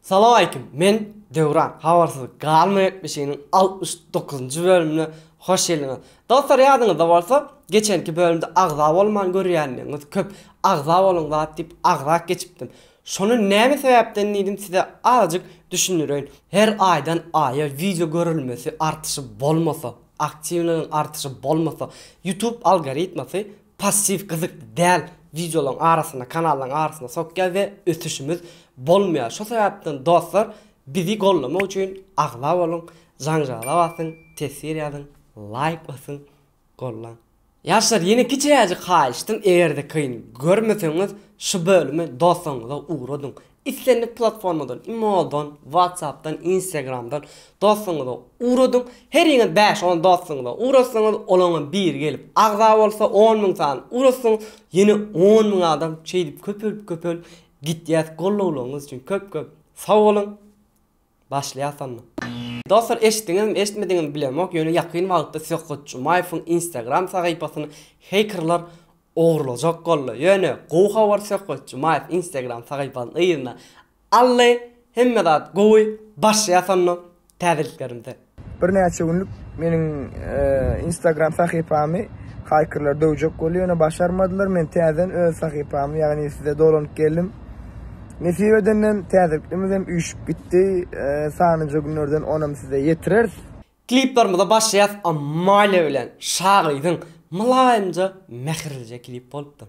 Salam aleýkum men Döwran habarsyz galma ýetmişiniň altmyş dokuzynjy bölümine hoş geldiňiz. Dostlar ýadyňyzda bolsa geçenki bölümde agza bolman görýändiňiz köp agza boluň zat diýip agza geçipdim. Şony näme sebäpden diýdim size azajyk düşündireýin. Her aýdan aýa wideo görülmesi artyşy bolmasa. Aktiwnyň artyşy bolmasa, YouTube algoritmasy passiw gyzykly däl wideolaryň arasyna, kanallaryň arasyna sokýar we ösüşimiz bolmaýar. Şo sebäpden dostlar bizi goldamak üçin agza boluň, janjala basyň, teswir ýazyň, laýk basyň, goldaň. Ýaşlar ýene kiçiräjik haýyşdym egerde kyn görmeseňiz şu bölüme doslaryňyza ugradyň islendik platformadan imodan whatsappdan instagramdan doslaryňyza ugradyň heriňiz bäş on doslaryňyza ugratsaňyz olaňam biri gelip agza bolsa on müň sany ugratsaňyz ýene on müň adam şeýdip köpelip köpelip gitýäs gollawlaryňyz üçin köp köp sag boluň. Başlaýasamy? Dostlar eşitdiňizmi eşitmediňizmi bilemok ýöne ýakyn wagtda Söhbet Jumaýewiň instagram sahypasyny heýkerlar ogurlajak boldy ýöne gowy habar Söhbet Jumaýew instagram sahypasyny yzyna aldy hemme zat gowy başlaýasamy täzeliklerimize. Birnäçe günlük meniň Instagram sahypamy haýkerler döwjek boldy, ýöne başarmadylar. Men täzeden öz sahypamy, ýagny size dolanyp geldim. Nesip edenden täzeliklerimiz hem üýşüp gitdi. Sanlyja günlerden onam size ýetireris. Kliplerimize başlaýas Amalia bilen. Şagyzyň mylaýymja, mähirlije klip bolupdyr.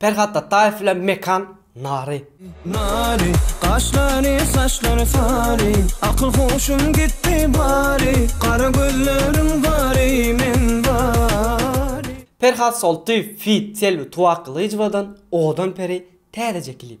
Perhat Ataýew bilen Mekan Nary. Nary, gaşlary, saçlary sary, akyl-huşum gitdi bary, gara gözleriň bary, men bary. Perhat Soltyýew feat. Selbi Tuwa Gylyjowadan Odan peri täzeje klip.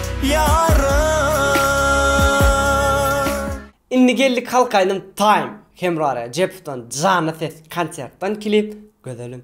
ýarym. Indi geldik halk aýdym time Hemra Rejepowdan janly ses konsertdan klip gözelim.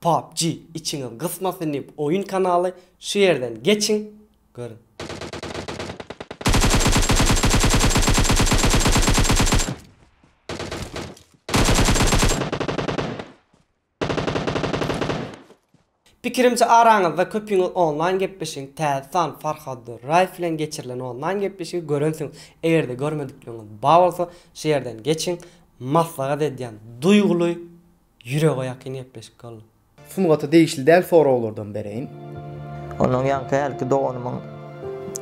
PUBG içiňiz gysmasyn diyip oyun kanaly şu yerden geçiň görün. Pikirimçe araňyzda köpüňiz online gepleşigiň täze sany Farhad Durraýew bilen geçirilen online gepleşigi görensiňiz egerde görmedikligiňiz bar bolsa şu ýerden geçiň maslahat edýän duýguly Ýürege ýakyn gepleşik boldy. Sungata degişli däl soraglardan bereýin. Ondan ýaňky hälki doganymyň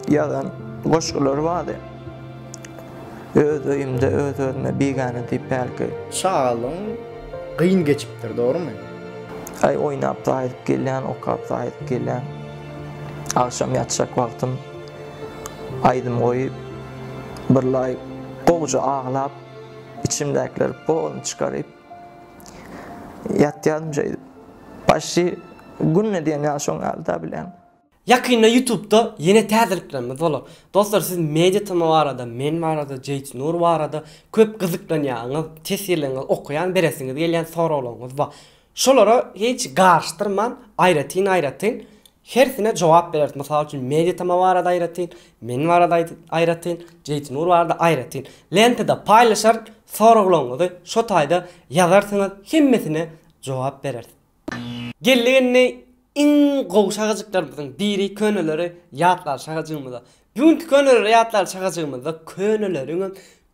ýazan goşgulary bardy. Öz öýümde öz-özüme bigäne diýip hälki. Çagalygyň gyn geçipdir, dogrumy? Aý oýnap saýylyp gelýän, okap saýylyp gelýän. Agşam ýatjak wagtym aýdym goýup, birlaý gowja aglap, içimdäkileri polny çykaryp. Ýatýaryn şeýdip. Başy günde diýen ýaly şoň ýaly da bilen. Ýakynda ýutubda ýene täzeliklerimiz bolar. Dostlar siz media tm barada, men barada, Jeýt Nur barada köp gyzyklanýaňyz, tesirleňňiz, okaýan beresiňiz gelýän soraglaryňyz bar. Şolara hiç garyşdyrman aýratyn-aýratyn Hersine jogap bereris, mysal üçin, Meditama barada aýratyn, men barada aýratyn, Jeýtnur barada aýratyn lentada paýlaşar, soraglaryňyzy şo taýda ýazarsyňyz, hemmesine jogap bereris. Geldik indi iň gowy şagajyklarymyzyň biri köneleri ýatlar şagajygymyza. Bu günki köneleri ýatlar şagajygymyzda köneleriňem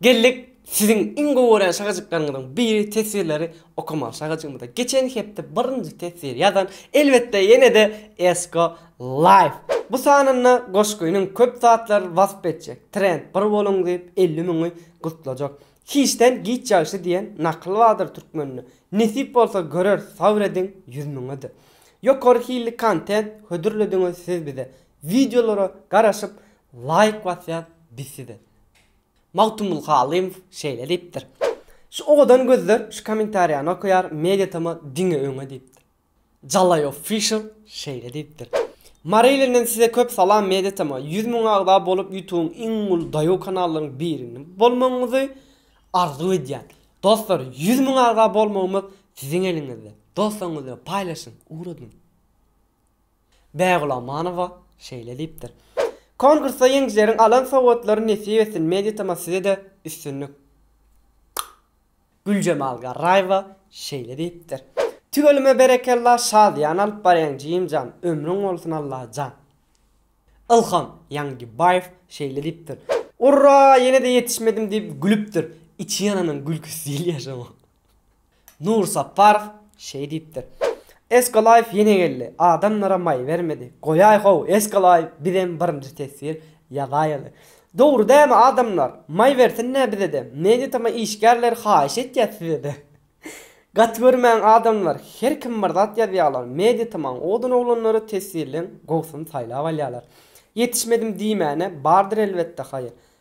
Geldik siziň iň gowy görýän şagajyklaryňyzyň biri teswirleri okamaga şagajygymyza geçen hepde birinji teswir ýazan elbetde ýenede Esko Life bu sanynda goşgynyň köp zatlar wasp etjek trend bir boluň diýip elli müňi gutlajak hiçden giç ýagşy diýen nakyl bardyr türkmende nesip bolsa göreris sabr ediň ýüz müňede ýokary hilli kontent hödürlediňiz siz bize wideolara garaşyp laýk basýas biz size. Magtymguly Halymow şeýle diýipdir, Şu owadan gözler şu kommentariýany okaýar, Media tm diňe öňe diýipdir. Jalaý official şeýle diýipdir, Mary ilinden size köp salam Media tm ýüz müň agza bolup ýutubyň iň uly daýaw kanallaryň birini bolmagyňyzy arzuw edýän. Dostlar ýüz müň agza bolmagymyz siziň eliňizde. Dostlaryňyz bilen paýlaşyň, ugradyň. Bägülamanowa şeýle diýipdir, Konkursda ýeňijileriň alan sowgatlary nesip etsin Mediatm-a size-de üstünlik Güljemal Garraýewa şeýle diýipdir, Tüweleme berekella şadyýan alyp barýaň jigimjan ömrüň bolsun Allajan Ilham Ýaňybaýew şeýle diýipdir, Urra ýene-de ýetişmedim diýip gülüpdir, içi ýananyň gülküsi diýilýär şoňa. Nur Sapparow şeý diýipdir. Eskolaýew ýene geldi. Adamlara maý bermedi. Goýaý-how, Eskolaýew, bizem birinji teswir ýazaýaly. Dogry dämi, adamlar? Maý bersin-dä bize-de. Media-tama işgärleri haýyş etýär size-de. Gaty görmäň, adamlar, her kim bir zat ýazýarlar. Media-tamaň odan oglanlary teswirleň gowusyny saýlap alýarlar. Ýetişmedim diýmäne, bardyr elbetde haýyr.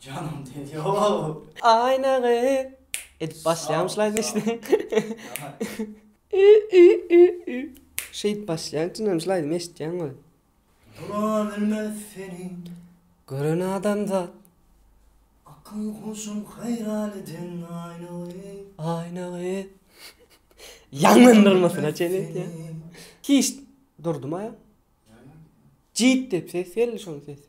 Janym tez ýok. Aýnagy edip başlaýamyşlaýyn işine. Ü ü ü ü. Şeýdip başlaýan çyndanmyşlaýyn eşitýäň we. Dura bilmez seni. Gören adamzat. Akyl huşum haýran eden aýnagy. Aýnagy. Ýanlandyrmasyna çen etýän. Hiç durdumaýan. Jyt dep ses geldi şoň sesi.